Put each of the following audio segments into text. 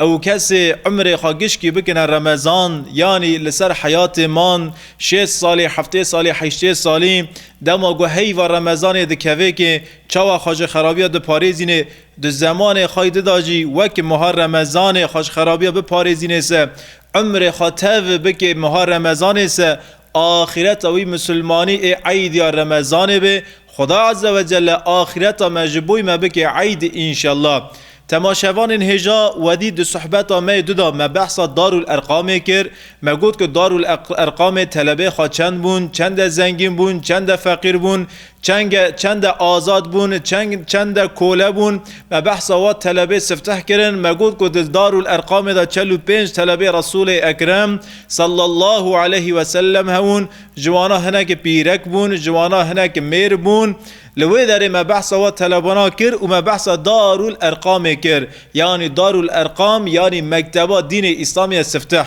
Ew kesê umrê xwe gişkî bikine remezan, yanî li ser heyatê man, şêst salî, heftê salî, heştê salî, dema ku heyva remezanê dikeve kê, çawa xweşxerabiya diparêzînê, di zemanê xwe di de jî wek meha remezanê xweşxerabiya biparêzînê se, umrê xwe tev bikê meha remezanê se, Axîreta wî Misilmanî ê Eîd ya Remezanê be, Xuda Azze ve Celle axîreta me ji bo me bike Eîd înşella. Temaşevanên hêja wedî di suhbeta me yê du de me behsa Darul Erqamê kir. Me got ku Darul Erqamê telebê xwe çend bûn, çend e zengîn bûn, çend e feqîr bûn, Çeng e, çend e azad bûn, çeng, çend e kole bûn. Me behsa we telebê sifteh kirin. Me got ku di Darûl-Erqamê de çel û pênc telebê Resûlê Ekrem sallallahu aleyhi ve sellem hebûn. Ji wana hinek pîrek bûn, ji wana hinek mêr bûn. Li wê derê me behsa we telebana kir û me behsa Darûl-Erqamê kir. Yanî Darûl-Erqam yanî mekteba dînê Îslamê ye sifteh.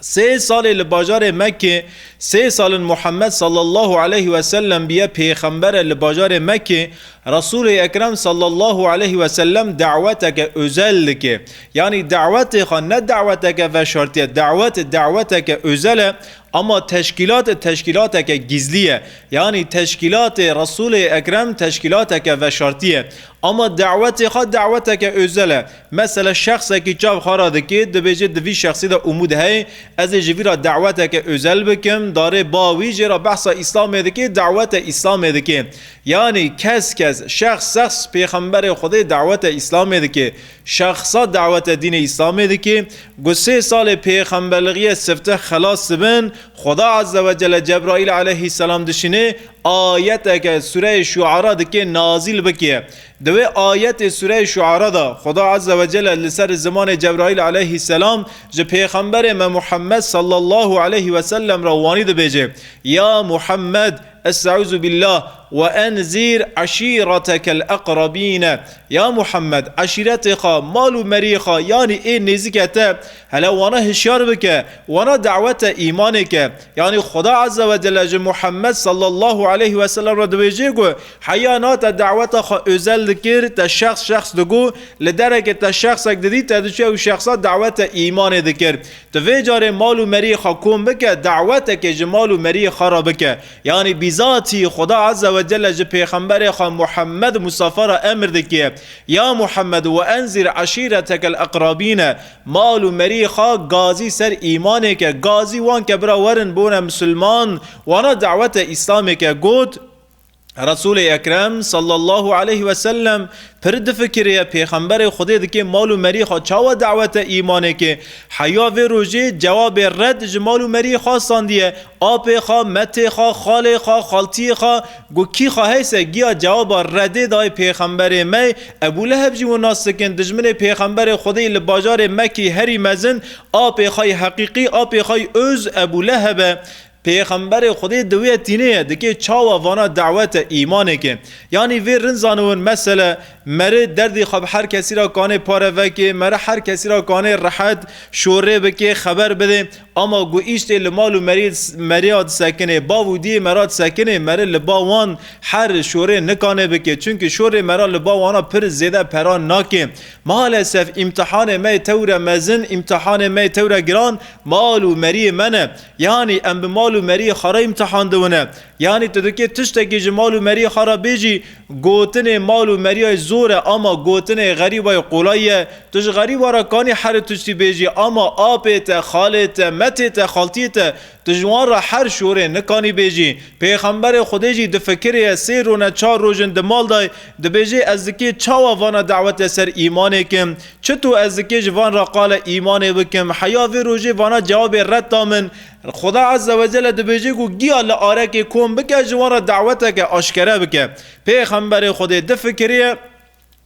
Sê salê li bajarê Mekkê, sê sal in Muhammed sallallahu aleyh ve sellem biye pêxember e li bajarê Mekkê, Resûlê Ekrem sallallahu aleyh ve sellem daweteke ozel dike. Yanî dawetê xwe ne daweteke veşartiye, dawet daweteke ozel e, ama teşkîlat teşkîlateke gîzlî ye. Yanî teşkîlatê Resûlê Ekrem teşkîlateke veşartiye, ama dawetê xwe daweteke ozel e. Mesele şexsekî çav xwe re dikê, dibêje di vî şexsî de umûd heye, ez ê ji vî re daweteke ozel bikim, darê ba wî jê re behsa Îslamê dikê, dawete Îslamê dikê. Yanî kes kes, şexs sexs pêxemberê Xwedê dawete Îslamê dikê. Şexsa dawete dînê Îslamê dikê, ku sê salê pêxemberliğîye sifte xelas dibin, Xweda Ezzewecelle Cebraîl eleyhîsselam dişînê, ayeteke sureyê Şuara dikê nazîl bikê. Di wê ayetê Sûreyê Şuara de Xweda Ezze Wecelle li ser zimanê Cebraîl Eleyhî Selam ji Pêxemberê me Muhemmed Sallallahu Eleyhî Wesellem re wanî dibêje, Ya Muhemmed est'ûzu bîllah we enzîr eşîretekel eqrebîne, Ya Muhemmed eşîretê xwe, mal û meriyê xwe yanî ê nêzike te hele wana hişyar bike, wana dawete îmanê ke. Yanî Xweda Ezze Wecelle ji Muhemmed Sallallahu Eleyhî Wesellem re dibêje ku Heya na te daweta xwe ozel dikir, te şexs şexs digot, li derekê te şexsek didît te diçûye û şexsa dawet te îmanê dikir. Tu vê carê mal û meriyê xwe kom bike, dawetekê ji mal û meriyê xwe re bike. Yanî bîzatî Xuda Eze we Celle ji pêxemberê xwe Muhemmed Mustafa re emir dikiye, Ya Muhemmed we enzîr eşîretekel eqrabîne, mal û meriyê xwe gazî ser îmanê ke, gazî wan ke bira werin bone misilman, wana dawete îslamê ke got, Resulê Ekrem sallallahu aleyh ve sellem pir difikiriye pêxemberê Xwedê dikê mal û merî xwe çawa dawete îmanê ke heya vê rojê cewabê red ji mal û merî xwe sandiye apê xwe, metê xwe, xalê xwe, xaltiyê xwe got kî xwe heyse giya cewaba redê dayê pêxemberê me Ebû Leheb jî wina sikin dijminê pêxemberê Xwedê li bajarê Mekî herî mezin apê xwe yê heqîqî apê xwe yê ûz Ebû Lehebe Pêxemberê Xwedê di wê tînê ye, dikê çawa vana dawete îmanêkê. Yanî vê rind zanûn mesele, meri derdê xwe bi her kesî ra kanê pare vekê, meri her kesî ra kanê rehet, şorê bikê, xeber bidê. Ama ku îştê li mal û merî meriya disekinê, bav û diyê mera disekinê, meri li ba wan her şorê nikanê bikê. Çimkî şorê mera li ba wana pir zêde pera nakê. Malesef îmtihanê me yê tewre mezin, îmtihanê me yê tewre giran mal û meriyê me ne. Yanî em bi mal û meriyê xwe re îmtihan diwine. Yanî tu dikê tiştekî ji mal û meriyê xwe re bêjî, gotinê mal û meriyayê zor e ama gotinê xerîbayê qolay ye. Tu ji xerîba re kanî herî tiştî bêjî ama apê te, xalê te, metê te, xaltiyê te, tu ji wan re her şorê nikanî bêjî. Pêxemberê Xwedê jî di fikirê ye sê rone çar rojin di mal de dibêjê ez dikê çawa vana dewete ser îmanê ke Çito ez dikê ji van re qale îmanê bikim? Heya vê rojê vana cewabê red da min, Xuda Ezze ve Celle dibêje ku giya li arekê kom bike ji wan re daweteke aşkere bike. Pêxemberê Xwedê di fikirê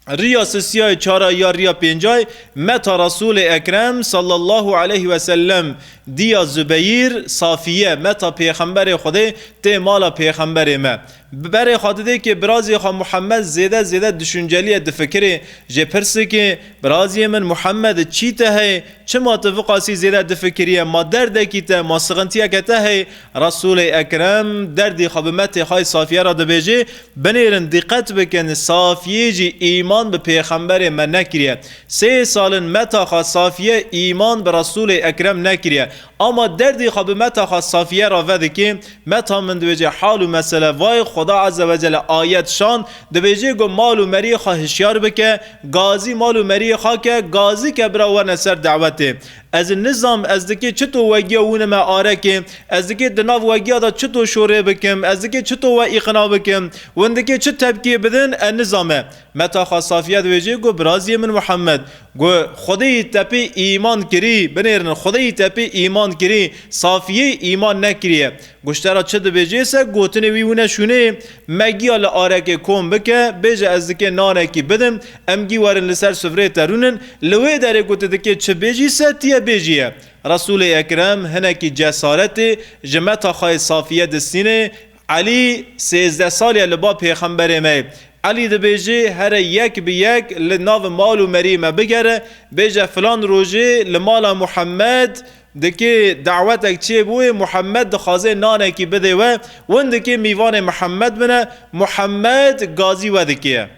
riya sisiyayê çara ya riya pêncayê meta Resûlê Ekrem sallallahu aleyh ve sellem diya Zubeyir, Safiye, meta Pêxemberê Xwedê tê mala Pêxemberê me. Bi berê xwe didê kê birazê xwe Muhammed zêde zêde duşuncelî ye difikirê, jê pirsikê, Birazê min Muhammed çî te heye, çima tu viqasî zêde difikirîye, ma derdekî te, ma sixintiyeke te heye? Resûlê Ekrem derdê xwe bi metê xwe yê Safîye re dibêje, Binêrin dîqet bikin Safîyê jî îman bi pêxemberê me nekirîye. Sê sal in meta xwe Safîye îman bi Resûlê Ekrem nekirîye. Ama derdê xwe bi Meta xwe Safiye re vedikê, Meta min dibêje hal û mesele vayê Xweda Eze Wecele ayet şand, dibêje ku mal û meriyê xwe hişyar bike, gazî mal û meriyê xwe ke, gazî ke bira werne ser dewetê. Ez nizam ez dikê çito wegiya wînime arekê, ez dikê di nav wegiya de çito şorê bikim, ez dikê çito we îqna bikim, win dikê çi tepkiyê bidin, ez nizame. Meta xwe safiye dibêjê got, Biraziyê min Muhammed, got, Xwedêyî te pê îman kirî, binêrinin, Xwedêyî te pê îman kirî, Safiyê îman nekiriye. Guştera çi dibêjê se gotinê wî wine şûnê, Me giya li arekê kom bike, bêje ez dikê nanekî bidim, em gî werin li ser sufrê te rûnin, li wê derê ku tu dikê çi bêjî se tiye bêjiye. Resûlê Ekrem hinekî cesaretê ji meta xweyê safiye distînê, Elî sêzdeh sal ye li ba pêxemberê me ye. Elî dibêje here yek bi yek li nav mal û merî me bigere, bêje filan rojê li mala Muhemed dikê dawetek çê bûye, Muhemed dixwaze nanekî bidê we, win dikê mîvanê Mihemed bine, Muhemed gazî we dikê ye.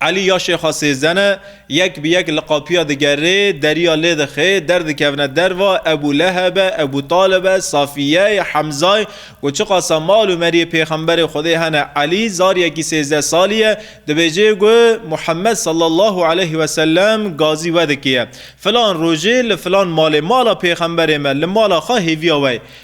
Elî ya Şêxa Sêzdeh ne, yek bi yek li qapiya digerê, deriya lê dixê, derdikevne derva, Ebû Leheb e, Ebû Talib e, Safîye ye, Hemza ye, ku çiqasa mal û meriyê Pêxemberê Xwedê hene, Elî, zariyekî sêzdeh salî ye, dibêjê ku Muhemmed sallallahu aleyh ve sellem gazî we dikiye. Filan rojê li filan malê, mala Pêxemberê me, li mala xwe hêviya we ye.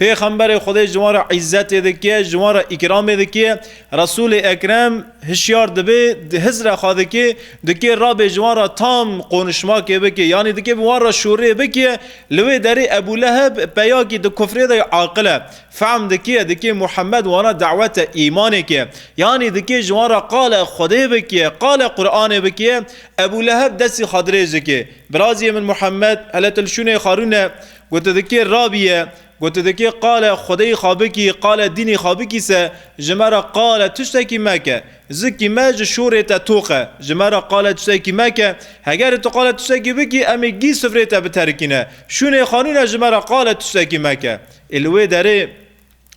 Pêxemberê Xwedê ji wan re îzzetê dike, ji wan re îkramê dike. Resûlê Ekrem hişyar dibe, di hiz re xwe dike, dike rabê ji wan re tam qonişmakê bike, yanî dike bi wan re şûrê bike. Li wê derê Ebû Leheb peyakî di kufrê de ye aqil e. Fehm dike, dike Muhemmed wana dawete îmanê ke. Yanî dike ji wan re qale Xwedê bike, qale Quranê bike. Ebû Leheb destê xwe dirêj dike. Birazê min Muhemmed, hele tu li şûnê xwe rûne. Gotidikê Rabî ye. Gotidikê qale Xwedeyî xabikî, qale dînî xabikî se, ji me re qale tiştekî meke. Zikî me ji şorê te toq e. Ji me re qale tiştekî meke. Hegerê tu qale tiştekî bikî, em ê gî sifrê te biterikîne. Şûnê xanûne ji me re qale tiştekî meke. Ê li wê derê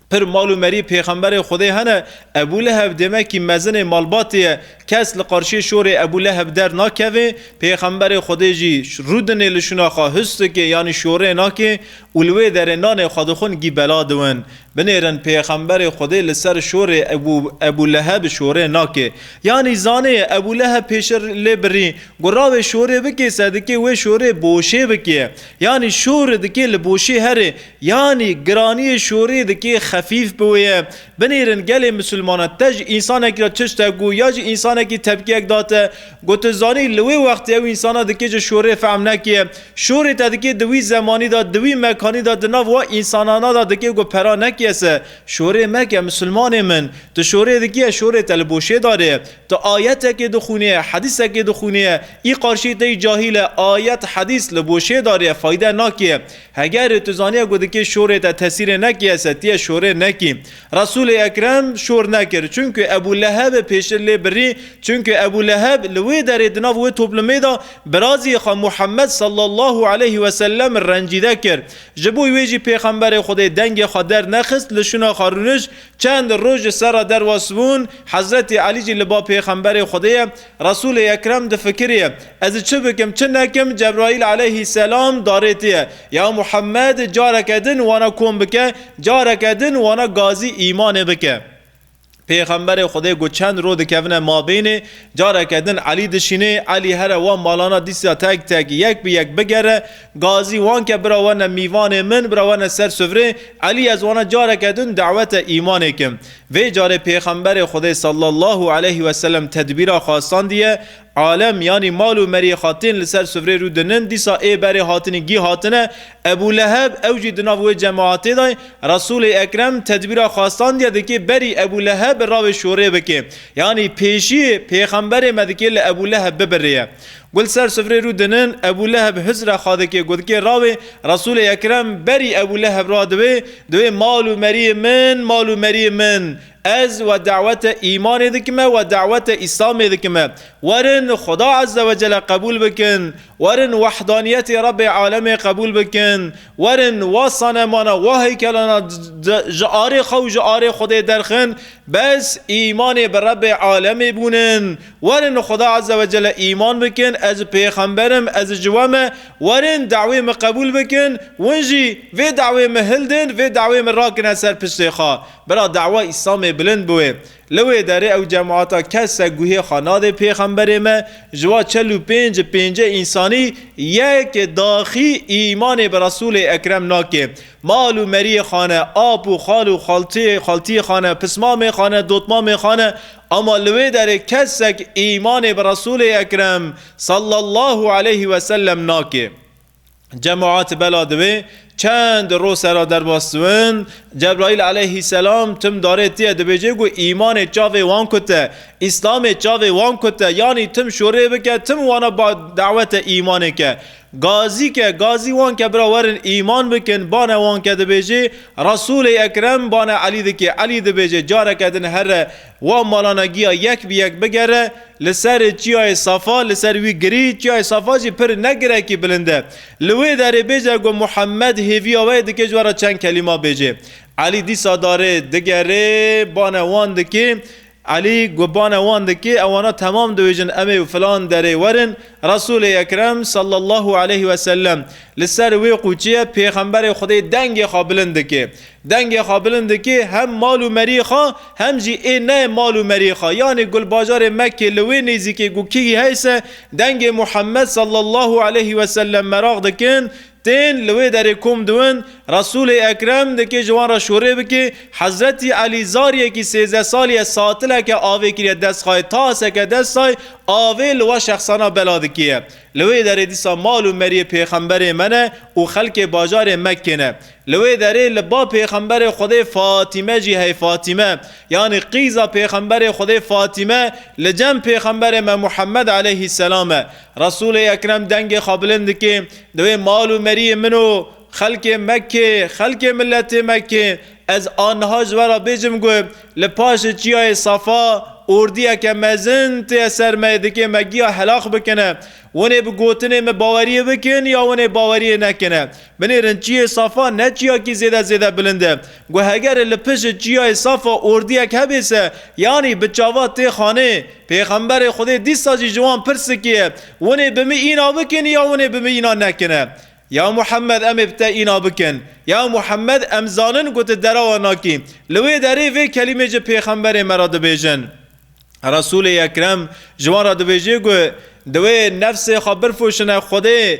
Pir mal û merî pêxemberê Xwedê hene. Ebû Leheb demekî mezinê malbatê ye. Kes li qarşiyê şorê Ebû Leheb der nakeve. Pêxemberê Xwedê jî rû dinê li şûna xwe hus dike yanî şorê nake û li wê derê nanê xwe dixwin gî bela diwin. Binêrin pêxemberê Xwedê li ser şorê Ebû Ebû Leheb şorê nake. Yanî zanê Ebû Leheb pêşir lê birî ku rawê şorê bike sedike wê şorê boşê bike. Yanî şori dike li boşê herê. Yanî giraniyê şorê dikê xefîf bi wê ye. Binêrin gelê misilmanan te ji însanekî re çi şte got ya jî însanekî tepkiyek da te ku tu zanî li wê wextê ew însanan dikê ji şorê fehm nekê. Şorê te dikê di wî zemanî de, di wî mekanî de, di nav wa însanana de dikê ku pera nekê se şorê meke misilmanê min. Tu şorê dikê, şorê te li bo şêdarê. Tu ayetekê dixwînê, hedîsekê dixwînê, î qarşî te yî cahîl e, ayet, hedîs li bo şêdarê fayde nakê. Heger tu zaniye ku dikê şorê te tesîrê nekîye se tîye şorê nekî. Resûlê Ekrem şor nekir çunku Ebû Leheb pêştir lê birî çunku Ebû Leheb li wê derê di nav wê toplumê de birazî xwe Muhammed sallallahu aleyhi ve sellem rencîde kir. Ji bo wê jî Pêxemberê Xwedê dengê xwe dernexist li şûna xwe rûnişt çend roj li ser re derwesbûn Hezretî Elî jî li ba Pêxemberê Xwedê ye Resûlê Ekrem difikiriye, Ez çi bikim, çi nekim, Cebraîl aleyhî selam darêtiye, Ya Muhammed, careke din wana kom bike, careke din wana gazî îmanê bike. Pêxemberê Xwedê ku çend roj dikevine mabênê, careke din Elî dişînê, Elî here wan malana dîsa tek tek, yek bi yek bigere, gazî wan ke bira werne mîvanê min, bira werne ser sufrê, Elî ez wana careke din dewete îmanê kim. Vê carê Pêxemberê Xwedê sallallahu aleyh ve selem tedbîra xastandiye, alem yanî mal û meriyê xwe tên li ser sufrê rû dinin, dîsa ê berê hatinî gîh hatine, Ebû Leheb ew jî di nav wê cemaatê de ye, Resûlê Ekrem tedbîra xastandiye dikê berî Ebû Leheb bi ravê şorê bikê, yanî pêşiyê Pêxemberê me dikê li Ebû Leheb bibirêye. Gul ser sufrê rû dinin, Ebû Leheb hizra xwe dike ku dike rawê, Resûlê Ekrem berî Ebû Leheb ra diwê, diwê mal û meriyê min, mal û meriyê min, ez we dawete îmanê dikime, we dawete îslamê dikime. Werin Xuda Eze we Cele qebûl bikin, werin wehdaniyetê Rebê Alemê qebûl bikin, werin wa sanemana, wa heykelana ji arê xwe û ji arê Xwedê derxin, bes îmanê bi Rebê Alemê bûnin, Werin li Xuda Azze ve Celle îman bikin, ez pêxember im, ez ji we me, werin dawê min qebûl bikin, win jî vê dawê min hildin, vê dawê min rakine ser piştê xwe. Bira dawa Îslamê bilind biwê. Li wê derê ew cemaata kes se guhê xwe nadê pêxemberê me, ji wa çel û pênc pêncê însanî yek daxî îmanê bi Resûlê Ekrem nakê. Mal û meriyê xane, ap û xal û xaltiyê xaltiyê xane, pismamê xane, dotmamê xane, Ama li wê derê kesek îmanê bi Resûlê Ekrem sallallahu aleyhi ve sellem nake. Cemaat bela divê çend roj sera derbas siwin, Cebraîl aleyhîsselam tim darê tiye dibêje ku îmanê çavê wan kute, îslamê çavê wan kute, yanî tim şorê bike, tim wana dawete îmanê ke. Gazî ke, gazî wan ke bira werin îman bikin, bane wan ke dibêjê, Resûlê Ekrem, bane Elî dikê, Elî dibêjê, careke din here wan malana giya yek bi yek bigere, li ser çiyayê Safa, li ser wî girî, çiyayê Safa jî pir ne girekî bilind e. Li wê derê bêje ku Muhemmed hêviya we ye dikê ji we re çend kelîma bêjê. Elî dîsa darê, digerê, bane wan dikê, Elî gubane wan dike, ewana temam diwêjin em ê û filan derê werin, Resûlê Ekrem salla Allahu aleyh ve sellem li ser wê qûçiye Pêxemberê Xwedê dengê xwe bilind dike. Dengê xwe bilind dike hem mal û merî xwe hem jî ê ne mal û merî xwe yanî gulbajarê Mekkê li wê nêzîkê ku kî heyse dengê Muhammed salla Allahu aleyh ve sellem meraq dikin, Tên li wê derê kom diwin, Resûlê Ekrem dikê ji wan re şorê bike, Hezretî Elî zariyekî sêzdeh salî ye satileke avê kiriye dest xayê taseke destay avê li we şexsana bela dikê ye. Li wê derê dîsa mal û meriyê pêxemberê me ne û xelkê bajarê Mekkê ne. Li wê derê li ba pêxemberê Xwedê Fatîme jî hey Fatîme yanî qîza pêxemberê Xwedê Fatîme li cem pêxemberê me Muhemmed eleyhî selam e. Resûlê Ekrem dengê xwe bilind dike, Di wê mal û meriyê min û xelkê Mekkê, xelkê miletê Mekkê, ez a niha ji we re bêjim ku li paşê çiyayê Safa ordiyeke mezin tê ser me ê dikê me giya helax bikine. Winê bi gotinê min baweriyê bikin ya winê baweriyê nekine. Binêrin çiyê Safa ne çiyakî zêde zêde bilind e ku hegerê li pişê çiyayê Safa ordiyek hebê se yanî bi çavat tê xanê, Pêxemberê Xwedê dîsa jî ji wan pirsikiye, Winê bi min îna bikin ya winê bi min îna nekine? Ya Muhemmed em ê bi te îna bikin. Ya Muhemmed em zanin ku tu dera wan nakî. Li wê derê vê kelîmê ji pêxemberê me re dibêjin. Resûlê Ekrem ji wan re dibêje ku di wê nefsê xwe birfûşine Xwedê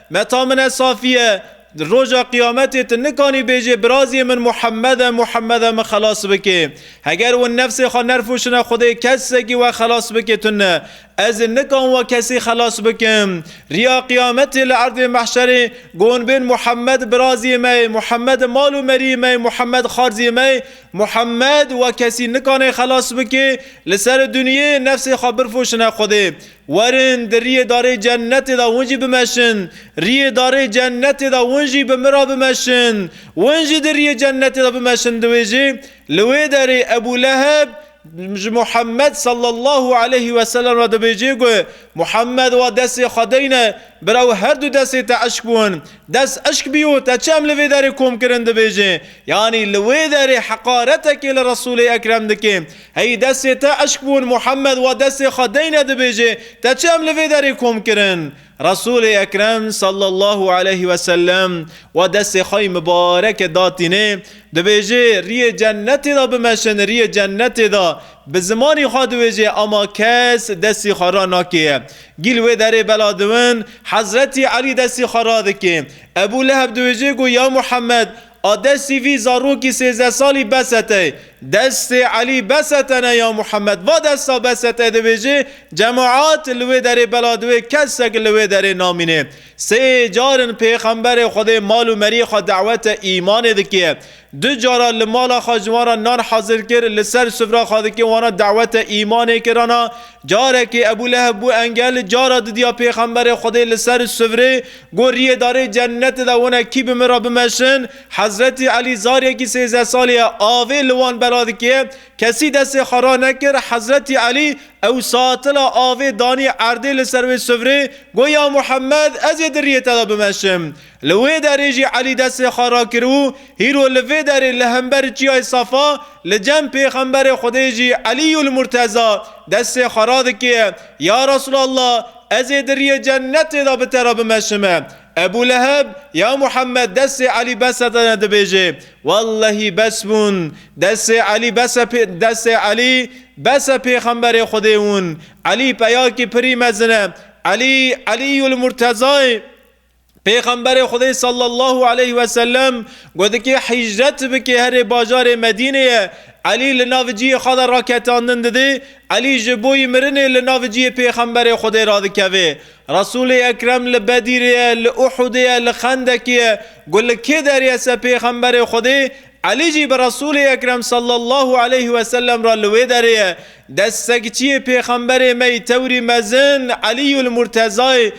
Meta min e safî ye. Di roja qiyametê tu nikanî bêjê birazê min Muhemmed e, Muhemmed e min xelas bike. Heger wan nefsê xwe nerfûşine Xwedê kesekî we xelas bike tu ne. Ez ê nikan we kesî xelas bikim. Riya qiyametê li erdê mehşerê gon bên Muhemmed birazê me ye, Muhemmed mal û meriyê me ye, Muhemmed xarzê me ye, Muhemmed we kesî nikanê xelas bike li ser dunyê nefsê xwe birfûşine Xwedê. Werin di riyê darê cennetê de hûn jî bimeşin, riyê darê cennetê de hûn jî bi min re bimeşin. Hûn jî di riyê cennetê de bimeşin di wê jê, li wê derê Ebû Leheb ji Muhemmed sallallahu aleyhî weselem re dibêje ku Muhemmed wa destê xwe deyne, bira û her du destê te eşk bûn. Dest eşk bîyo te çi em li vê derê kom kirin dibêje? Yanî li wê derê heqaretekê li Resûlê Ekrem dike. Hey destê te eşk bûn Muhammed wa destê xwe deyne dibêjê te çi em li vê derê kom kirin? Resûlê Ekrem sallallahu aleyh ve sellem wa destê xwe yê mibareke datînê dibêjê riyê cennetê de bimeşin riyê cennetê de bi zimanî xwe diwêjê ema kes destî xwe ra nakêye gî li wê derê bela diwin Hezretî Elî destî xwe radikê Ebû Leheb diwêjê ku ya Muhammed Ade sîvî zarokî sêzdeh salî Besetey, destê Elî Besetene ya Muhemed va desta Besetê dibêjê cemaat li wê derê bela diwê kesek li wê derê namînê. Sê car in pêxemberê Xwedê mal û meriyê xwe dawete îmanê dike. Du cara li mala xwe ji wan re nan hezir kir li ser sufra xwe dike wana dawete îmanê kirana. Carekê Ebûleheb bû engel cara didiya pêxemberê Xwedê li ser sufrê Goriyê darê cenetê de hûn e kî bi min re bimeşin, Hezretî Elî zaryekî sêzdeh salî ye avê li wan bela dike, kesî destê xwe ranekir, Hezretî Elî ew satila avê danî erdê li ser wê sufrê, got ya Muhemmed ez ê di riyê te de bimeşim. Li wê derê jî Elî destê xwe rakir û hîro li vê derê li hember çiyayê Safa li cem pêxemberê Xwedê jî Elîyûl Murteza destê xwe radike, ya Resûlallah! Ez ê di riyê cenetê de bi te re bimeşime. Ebû Leheb, Ya Muhemmed destê Elî bes e tene dibêjê. Wellehî bes bûn. Destê Elî bes e pê, destê Elî bes e pêxemberê Xwedê hûn. Elî peyakî pirî mezin e. Elî, Elîyûl Murtezayê. Pêxemberê Xwedê sallallahu aleyh ve sellem got dikê hicret bikê herê bajarê Medînê ye. Elî li nav ciyê xwe de raketandin didê, Elî ji boî mirinê li nav ciyê Pêxemberê Xwedê radikevê. Resûlê Ekrem li Bedîrê ye, li Uhudê ye, li Xendekê ye. Got li kê derê ye se Pêxemberê Xwedê, Elî jî bi Resûlê Ekrem sallallahu aleyh ve sellem re li wê derê ye. Dest sekçiyê Pêxemberê me yî tewrî mezin Elîyul Murtezayê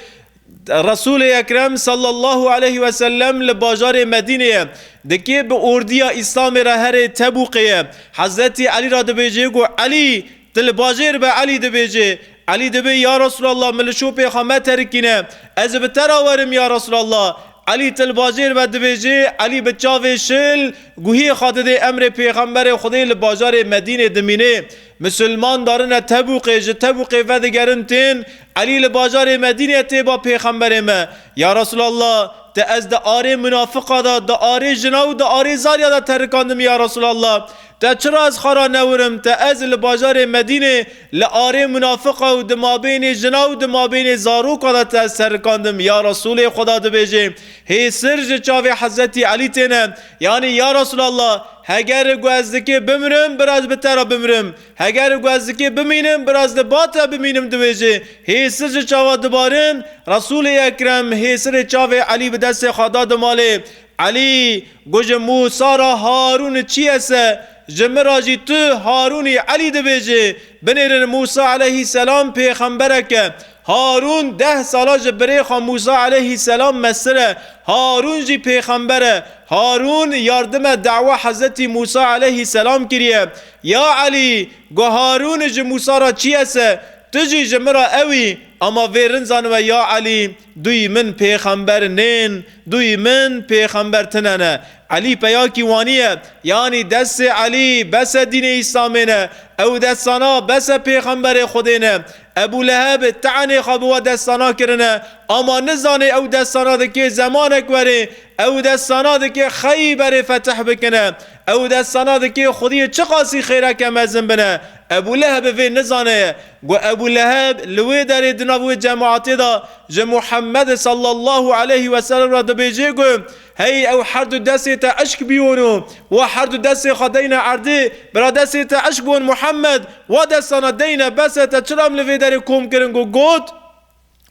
Resûlê Ekrem sallallahu aleyh ve sellem li bajarê Medînê ye. Di kê bi ordiya Îslamê re herê Tebûkê ye. Hezretî Elî ra dibêjê ku Elî! Tu li bajêr be Elî dibêjê. Elî dibê ya Resûlallah min li şopê xwe meterikîne. Ez ê bi te ra werim ya Resûlallah. Elî tu li bajêr be dibêjê. Elî bi çavê şil guhiyê xwe didê emrê pêxemberê Xwedê li bajarê Medînê dimînê. Misilman darine Tebûqê, ji Tebûqê vedigerin tên, Elî li bajarê Medîneyê tê ba Pêxemberê me, Ya Resûlallah, te ez di arê munafiqa de, di arê jina û di arê zariya de terikandimî ya Resûlallah, te çira ez xara newirim, te ez li bajarê Medînê li arê munafiqa û di mabênê jina û di mabênê zaroka de te ez terikandim, ya Resûlê Xweda dibêjê, hê sir ji çavê Hezretî Elî têne, Yanî ya Resûlallah, heger ku ez dikê bimirim biraz bi te re bimirim, heger ku ez dikê bimînim biraz li ba te bimînim dibêje, hêsir ji çavan dibarin, Resûlê Ekrem hêsirê çavê Elî bi destê xwe da di malê Elî got ji Mûsa re Harûn çiyese, ji min re jî tu Harûnî Elî dibêje, binêrin Mûsa eleyhî selam pêxemberek e, Harûn deh sala ji birê xwe Mûsa eleyhî selam mestir e. Harûn jî pêxember e. Harûn yardime dewa Hezretî Mûsa eleyhî selam kiriye. Ya Elî! Got Harûn ji Mûsa re çî ese, tu jî ji min re ew î. Ama vê rind zanibe ya Elî, duyî min pêxember nên, duyî min pêxember tine ne. Elî peyakî waniye. Yanî destê Elî bese dînê Îslamê ne. Ew destana bese pêxemberê Xwedê ne. Ebû Leheb tenê xwe bi we destana kirine, ama nizanê ew destana dikê zemanek werê, ew destana dikê Xeyberê fetih bikine, ew destana dikê Xwediyê çiqasî xêreke mezin bine. Ebû Leheb vê nizaneye. Got, Ebû Leheb li wê derê di nav wê cemaetê de ji Muhemmed sallallahu aleyhi weselem re dibêjê ku, Hey ew herdu desê te eşk bîyono, wa herdu desê xwe deyne erdê, bira desê te eşk bon Muhammed, wa destana deyne bes e te çiram li vê derê kom kirin ku got,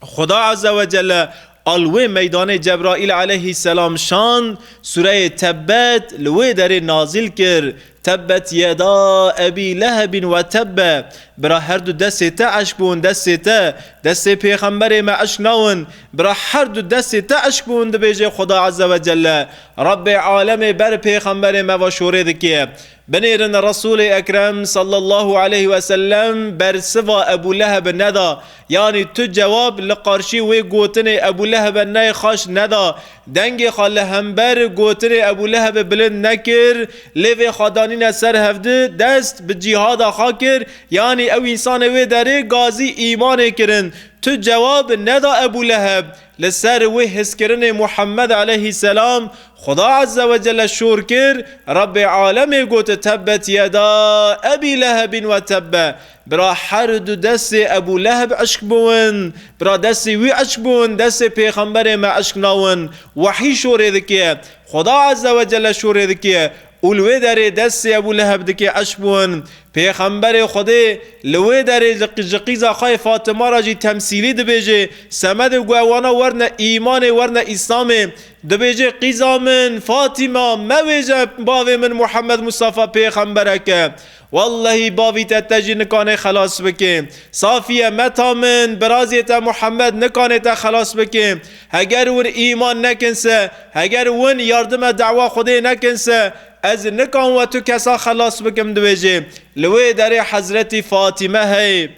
Xuda Azewecelle a li wê meydanê Cebraîl Eleyhî Selam şand, Sureyê Tebbet li wê derê nazil kir, Tebbet yeda Ebî Lehebîn we tebbe, bira her du destê te eşk bûn destê te, destê pêxemberê me eşk nawin, bira her du destê te eşk bûn dibêje Xuda Eze we Celle, Rabbê Alemê ber pêxemberê me ve şorê dike. Binêrin Resûlê Ekrem sallallahu aleyh wesellem bersiva Ebû Lehebi neda, Yanî tu cewab li qarşî wê gotinê Ebûlehebe nayê xaş neda, dengê xwe li hember gotinê Ebûlehebê bilind nekir, lê vê xwe danîne ser hevdi, dest bi cîhada xwe kir, yanî ew însanê wê derê gazî îmanê kirin. Tu cewab neda Ebûleheb, li ser wê hizkirinê Muhemmed eleyhî selam, Xuda Ezze we Celle şor kir, Rebbê alemê got, Tebbet yeda Ebî Lehebîn we tebbe, Bira her du destê Ebû Leheb eşk bûn. Bira destê wî eşk bûn, destê pêxemberê me eşk nawin. Wehî şorê dike. Xweda Ezze we Celle şorê dike û li wê derê destê Ebû Leheb dike eşk bûn. Pêxemberê Xwedê li wê derê ji qîza xwe yê Fatima re jî temsîlî dibêje, Semedê ku ew wana werne îmanê, werne îslamê. Dibêje, Qîza min, Fatima, mewêje bavê min Muhammed Mustafa pêxemberek e. Wellehî bavî te te jî nikanê xelas bikê. Safiye, Meta min, birazê te Muhammed nikanê te xelas bikê. Heger wir îman nekin se, heger win yardime dewa Xwedê nekin se, ez nikan we tu kesa xelas bikim dibêjê. Li wê derê Hezretî Fatîme heye.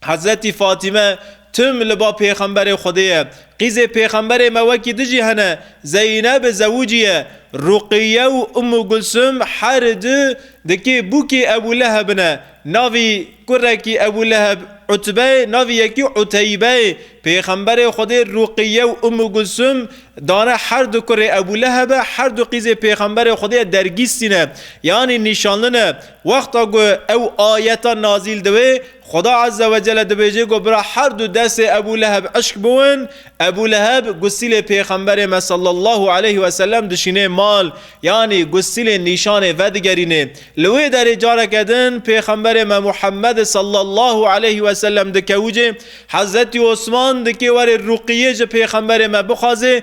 Hezretî Fatîme tim li ba pêxemberê Xwedê ye. Qîzê pêxemberê me wekî di jî hene, Zeyneb Zewûcî ye. Ruqiye û Ummu Gulsum her du dikê bûkê Ebû Leheb in e. Navî kurekî Ebû Leheb Utbe ye, navî yekî Uteybe ye. Pêxemberê Xwedê Ruqiye û Ummu Gulsum dane her du kurê Ebû Lehebe, her du qîzê pêxemberê Xwedê ye dergîstî ne, yanî nîşanli ne. Wexta ku ew ayeta nazîl dibe, Xweda Ezze Wecelle dibêje ku bira her du destê Ebû Leheb eşk bûn, Ebû Leheb gusîlê Pêxemberê me sallallahu aleyh we sellem dişînê mal, yanî gusîlê nîşanê vedigerînê. Li wê derê careke din Pêxemberê me Muhemmed sallallahu aleyh we sellem dikewicê, Hezretî Osman dikê were rûqîyê ji Pêxemberê me bixwaze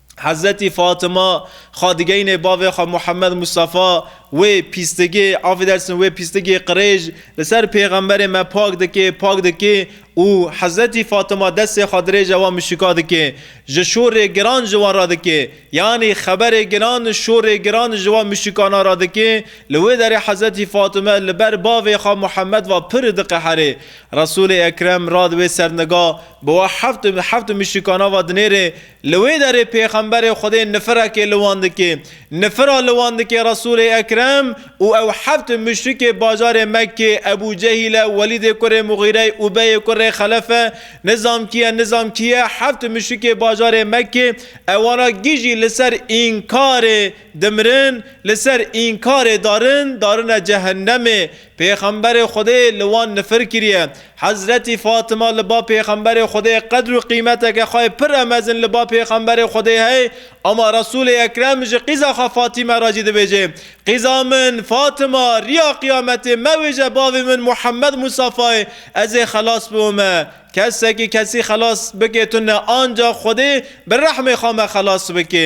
Hezretî Fatima xwe digeyînê bavê xwe Muhemmed Mustafa, wê pîstigê, affedersin, wê pîstigê qirêj li ser pêxemberê me pak dikê, pak dikê û Hezretî Fatima destê xwe dirêje wan muşrika dikê, ji şorê giran ji wan re dikê, yanî xeberê giran û şorê giran ji wan muşrikanan re dikê, li wê derê Hezretî Fatime li ber bavê xwe Muhemmed ve pir diqeherê. Resûlê Ekrem rad wê serniga bi we heft heft muşrikanan ve dinêrê, Li wê derê pêxemberê Xwedê nifirekê li wan dike. Nifira li wan dike Resûlê Ekrem û ew heft muşrikê bajarê Mekkê, Ebû Cehîl e, Welîdê kurê Muxîre ye, Ubeyê kurê Xelef e, nizam kî ye, nizam kî ye, heft muşrikê bajarê Mekkê, ewana gijî li ser înkarê dimirin, li ser înkarê darin, darine cehennemê. Pêxemberê Xwedê li wan nifir kiriye. Hezretî Fatima li ba Pêxemberê Xwedê qedr û qîmeteke xwe pir e mezin li ba Pêxemberê Xwedê hey ama Resûlê Ekrem ji qîza xwe Fatîme re jî dibêje, Qîza min, Fatima, riya qiyametê mewêje bavê min Muhammed Mûsafayê ez ê xelas biwime. Kesekî kesî xelas bike tune ancax Xwedê bi rehmê xwe me xelas bike.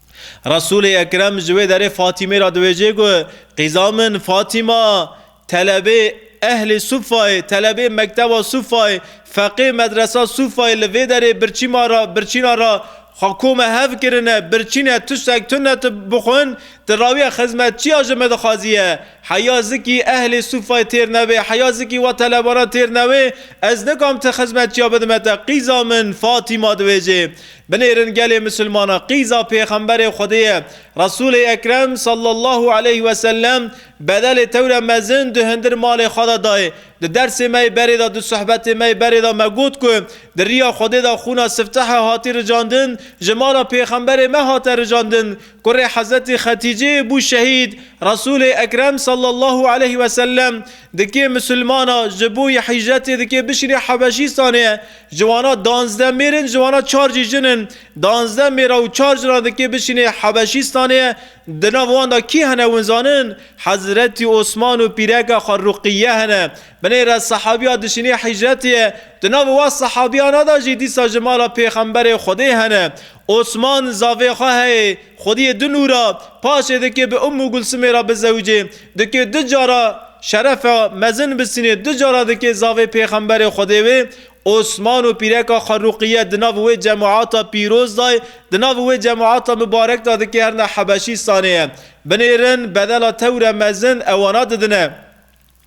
Resûlê Ekrem ji wê derê Fatîmê re dibêje ku qîza min Fatîma telebê Ehlê Sûfayê, telebê Mekteba Sûfayê, feqê Medresa Sûfayê li vê derê birçîma re, birçîna re xwe ku me hev kirine, birçîne tiştek tu ne tu bixwin, tu rawiya xizmet çiya ji min dixwaziye? Heya zikî Ehlê Sûfayê têr nebe, heya zikî we telebanan têr nebe, ez nikam tu xizmet çiya bidime te, qîza min Fatîma dibêje. Binêrin gelê misilmanan qîza pêxemberê Xwedê ye. Resûlê Ekrem sallallahu aleyh ve sellem bedelê tewre mezin di hundir malê xwe de dayê. Di dersê me yê berê de, di sohbetê me yê berê de me got ku di riya Xwedê de xûna siftehe hatî ricandin, ji mala pêxemberê me hate ricandin, kurê Hezretî Xetîcê yê bû şehîd, Resûlê Ekrem sallallahu aleyh ve sellem dikê misilmana ji bo yê hîcretê dikê bişînê Hebeşîstanê, Ji wana danzdeh mêr in, ji wana çar jî jin in. Danzdeh mêra û çar jinan dikê bişînê Hebeşîstanê. Di nav wan de kî hene hûn zanin? Hezretî Osman û pîreke xwe Ruqîye hene. Binê re sehabîya dişînê hîcretê ye. Di nav wan sehabîyana de jî dîsa ji mala Pêxemberê Xwedê hene. Osman zavê xwe heyê xwediyê du nû ra paşê dikê bi Ummu Gulsumê ra bizewicê, dikê du cara şerefa mezin bisînê, du cara dikê zavê pêxemberê Xwedê wê Osman û pîreka xwe Ruqiye di nav wê cemata pîroz da ye, di nav wê cemata mibarek da dikê herna Hebeşîstanê ye. Binêrin bedela tewre mezin ewana didine.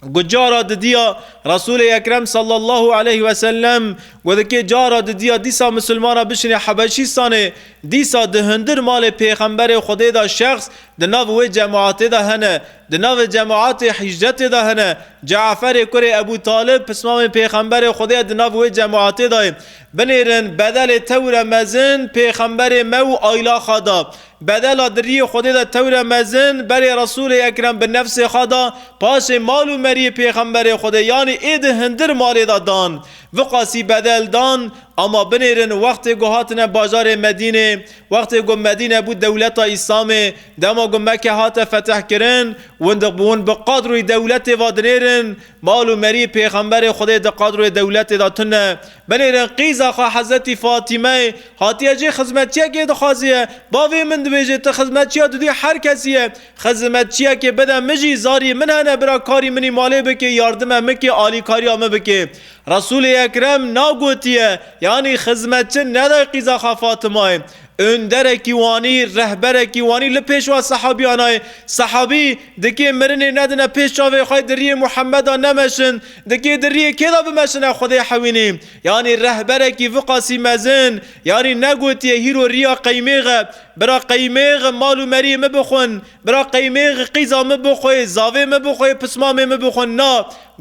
Got cara didiya Resulê Ekrem sallallahu aleyh ve sellem got dikê cara didiya dîsa misilmana bişinê Hebeşîstanê dîsa di hundir malê pêxemberê Xwedê de şexs di nav wê cemaatê de hene. Di navê cemaatê hîcretê de hene. Ceaferê kurê Ebû Talib pismamê pêxemberê Xwedê ye di nav wê cemaatê de ye. Binêrin bedelê tewr e mezin pêxemberê me û aylaxa da. Bedela diriyê Xwedê de tewre mezin, berê Resûlê Ekrem bi nefsê xwe da, paşê mal û meriyê Pêxemberê Xwedê yanî êdî hindir malê de dan. Viqasî bedel dan, ama binêrin wextê ku hatine bajarê Medînê, wextê ku Medîne bû dewleta Îslamê, dema ku Meke hate fetihkirin, windiq bi win bi qadroyê dewletê ve dinêrin, mal û meriyê Pêxemberê Xwedê di qadroyê dewletê de tune. Binêrin qîza xwe Hezretî Fatîmeyê, Hatiye jî xizmetçiyekê dixwaziye. Bavê min dibêje ti xizmetçiya dudî her kesî ye. Xizimetçiyekê bide min jî zarî min hene bira karî min î malê bikê yardime min kê alîkariya min bikê. Resûlê Ekrem na gotiye yanî xizmetçi neday qîza xwe Fatimayê. Ûnderekî wanî, rehberekî wanî li pêşwa sehabîyanayê. Sehabî dikê mirinê nedine pêş çavê xwe diriyê Muhemeda nemeşin. Dikê diriyê kêda bimeşine Xwedê hewînî. Yanî rehberekî viqasî mezin, yanî negotiye hîro riya qeymêx e, bira qeymêx mal û meriyê min bixwin, bira qeymêx qîza min bixwe, zavê min bixwe, pismamê min bixwin na,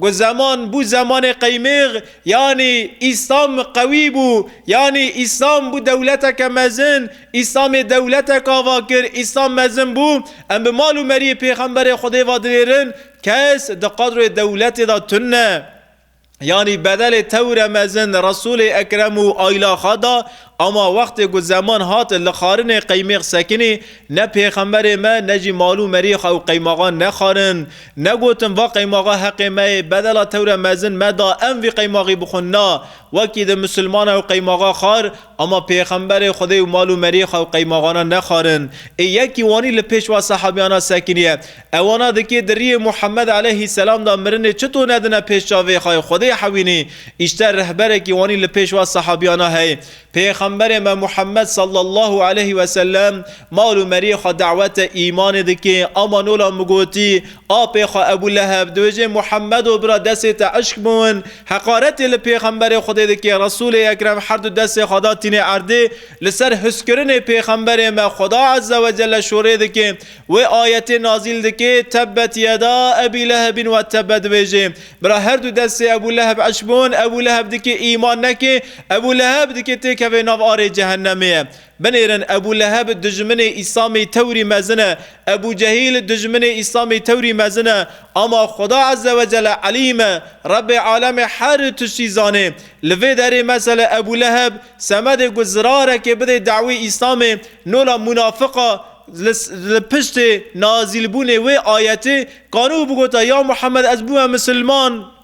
got zeman bû zemanê qeymêx, yanî Îslam qewî bû, yanî Îslam bû dewleteke mezin, Îslamê dewletek ava kir, Îslam mezin bû, em bi mal û meriyê pêxemberê Xwedê ve dinêrin, kes di qadroyê dewletê de tune. Yanî bedelê tewire mezin Resûlê Ekrem û aîla xwe da, ama wextê ku zeman hat li xarinê qeymêx sekinî, ne pêxemberê me ne jî mal û merî xwe û qeymaxan nexarin. Negotin va qeymaxa heqê me yê, bedela tewire mezin me da em vî qeymaxî bixwin na, wekî di misilman ew qeymaxa xar, ama pêxemberê Xwedê û mal û merî xwe û qeymaxana nexarin. Ê yekî wanî li pêş va sehabiyana sekinî ye. Ew wana dikê di riyê Muhammed eleyhî selam de mirinê çito nedine pêş çavê xwe yê Xwedê hewînî, îşte rehberekî wanî li pêş wa sehabiyana hey. Pêxemberê me Muhammed sallallahu eleyhî weselem mal û meriyê xwe dawete îmanê dikê, ama nola min gotî, apê xwe Ebû Leheb dibêjê Muhammedo bira desê te eşq biwin, heqaretê li pêxemberê Xwedê dikê, Resûlê ekrem herdu desê xwe da tînê erdê li ser huskirinê pêxemberê me Xweda ezze wecelle şorê dikê, Wê ayetê nazîl dike, Tebbet yeda Ebî Lehebîn we tebbe dibêje. Bira her du destê Ebû Leheb eş bûn, Ebû Leheb dike îman neke, Ebû Leheb dike têkeve nav arê Cehennemê ye. Binêrin Ebû Leheb dijminê Îslamê tewrî mezin e, Ebû Cehîl dijminê Îslamê tewrî mezin e. Ama Xuda Eze Wecele Elîm e, Rebê Alemê her tiştî zanê. Li vê derê mesele Ebû Leheb semedê ku zirarekê bidê dawî Îslamê, nola munafik a, Li piştê nazîlbûnê wê ayetê Kanûh bigota, Ya Muhemed ez bûme misilman.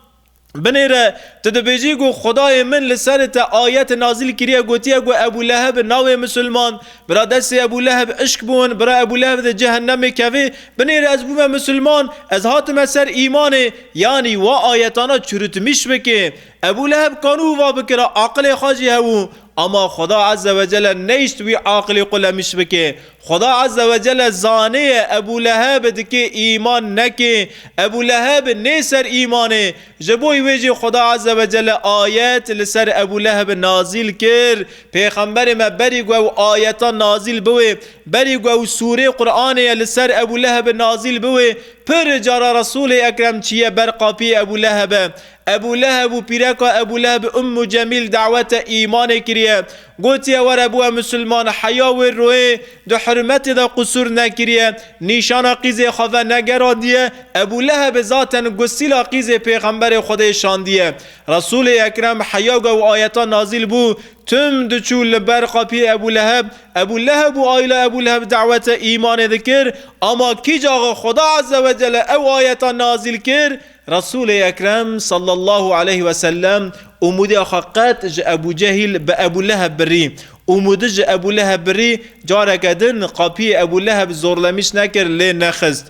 Binê re tu dibêjî ku Xwedayê min li serê te ayet nazîl kiriye gotiye ku Ebû Leheb nabê misilman. Bira destê Ebû Leheb îşk bûn, bira Ebû Leheb di cehennemê kevê. Binê re ez bûme misilman, ez hatime ser îmanê, yanî wa ayetana çurutmîş bikê. Ebû Leheb kanû va bikira aqilê xwe jî hewû. Ama Xweda Eze Wecele neyşt wî aqilê xwe lemiş bike. Xweda Eze Wecele zaniye Ebû Leheb dikê îman neke. Ebû Leheb nê ser îmanê. Ji bo wê jî Xweda Eze Wecele ayet li ser Ebû Leheb nazîl kir. Pêxemberê me berî ku ew ayetan nazîl biwe, berî ku ew sûrê Quranê ye li ser Ebû Leheb nazîl biwe, pir cara Resûlê Ekrem çiye ber qapiyê Ebû Lehebe. Ebû Leheb û pîreka Ebû Lehebê Ummû Cemîl dawete îmanê kiriye. Gotiye were biwe misilman, heya wê royê di hurmetê de qusûr nekiriye, nîşana qîzê xwe ve negerandiye, Ebû Lehebê zaten gusîla qîzê pêxemberê Xwedê şandiye. Resûlê Ekrem heya ge û ayetan nazîl bû, tim diçû li ber qapiyê Ebû Leheb, Ebû Leheb û aîla Ebû Leheb dawete îmanê dikir, ama kî caxa Xweda Ezzewecelle ew ayetan nazîl kir, Resûlê Ekrem sallallahu aleyh ve sellem Umudê xwe qet ji Ebû Cehîl bi Ebû Leheb birî. Umudi ji Ebû Leheb birî, careke din qapiyê Ebû Leheb zorlemîş nekir lê nexist.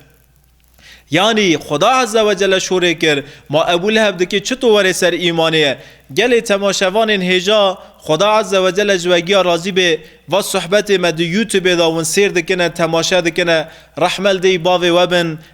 Yanî Xuda Ezze ve Celle şorê kir, ma Ebû Leheb dikê çito were ser îmanê? Gelê temaşevanên hêja, Xuda Ezze ve Celle ji we giya razî bê, va sohbetê me di Youtubê de win sêr dikine, temaşe dikine, rehmel dêy bavê we bin,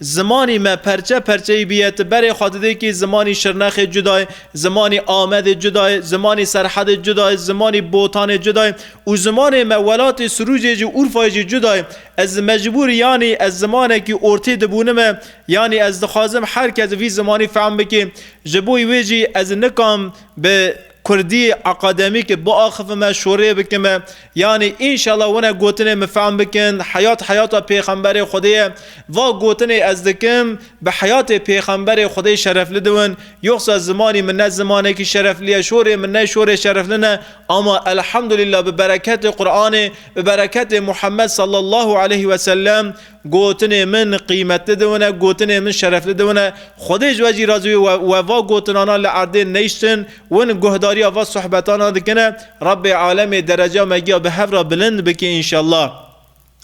Zimanî me perçe perçeyî bîye ti berê xwe didê kî zimanî Şirnexê cuda ye, zimanî Amedê cuda ye, zimanî Serhedê cuda ye, zimanî Botanê cuda ye û zimanê me welatê Sirûcê jî Urfayê jî cuda ye. Ez mecbûr yanî ez zimanekî ortê dibûnime yanî ez dixwazim her kes vî zimanî fehm bikê ji bo wê jî ez nikam bi Kurdî akademîkê biaxivime, şorê bikime. Yanî înşela wina gotinê min fehm bikin, Heyat heyata pêxemberê Xwedê ye. Va gotinê ez dikim, bi heyatê pêxemberê Xwedê şerefli diwin. Yoxsa zimanî min ne zimanekî şerefli ye, şorê min ne şorê şerefli ne. Ama elhamdulîla bi bereketê Quranê, bi bereketê Muhammed sallallahu aleyhi wesellem, Gotinê min qîmetli diwine, gotinê min şerefli diwine. Xwedê ji we jî razî wî we we va gotinana li erdê neyştin, win guhdarîya va suhbetana dikine. Rabbê alemê dereca me giya bi hev ra bilind bike înşellah.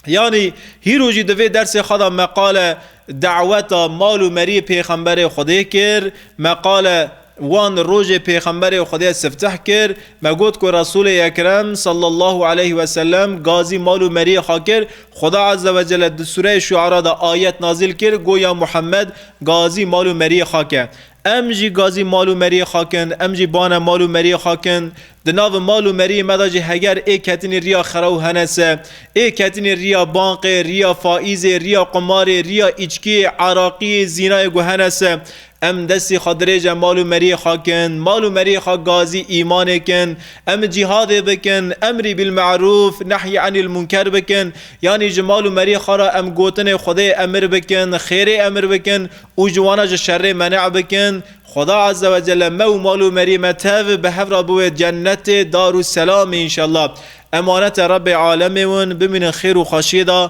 Yanî hîro jî di vê dersê xwe da meqale daweta mal û meriyê Pêxemberê Xwedê kir. Meqale. Wan di rojê Pêxemberê Xwedê sifteh kir, me got ku Resûlê Ekrem sallallahu aleyh ve sellem gazî mal û meriyê xwe kir. Xweda azze ve celle di sûreyê Şuara de ayet nazîl kir got, Ya Muhemmed! Gazî mal û meriyê xwe ke. Em jî gazî mal û meriyê xwe kin, em jî bane mal û meriyê xwe kin. Di nav mal û meriyê me de jî heger ê ketinî riya xerew hene se, ê ketinî riya banqê, riya faîzê, riya qumarê, riya îçkiyê, eraqiyê, zînayê ku hene se, Em destê xwe dirêje mal û meriyê xwe kin, mal û meriyê xwe gazî îmanê kin, em cîhadê bikin, emrî bil merûf, nehyî enîl munker bikin, yanî ji mal û meriyê xwe re em gotinê Xwedê emir bikin, xêrê emir bikin û ji wan re ji şerê menê bikin, Xweda Azze ve Celle me û mal û meriyê me tev bi hev re biwê cennetê Darû Selamê înşellah. Emanete Rebbê Alemê win, bimînin xêr û xweşiyê de,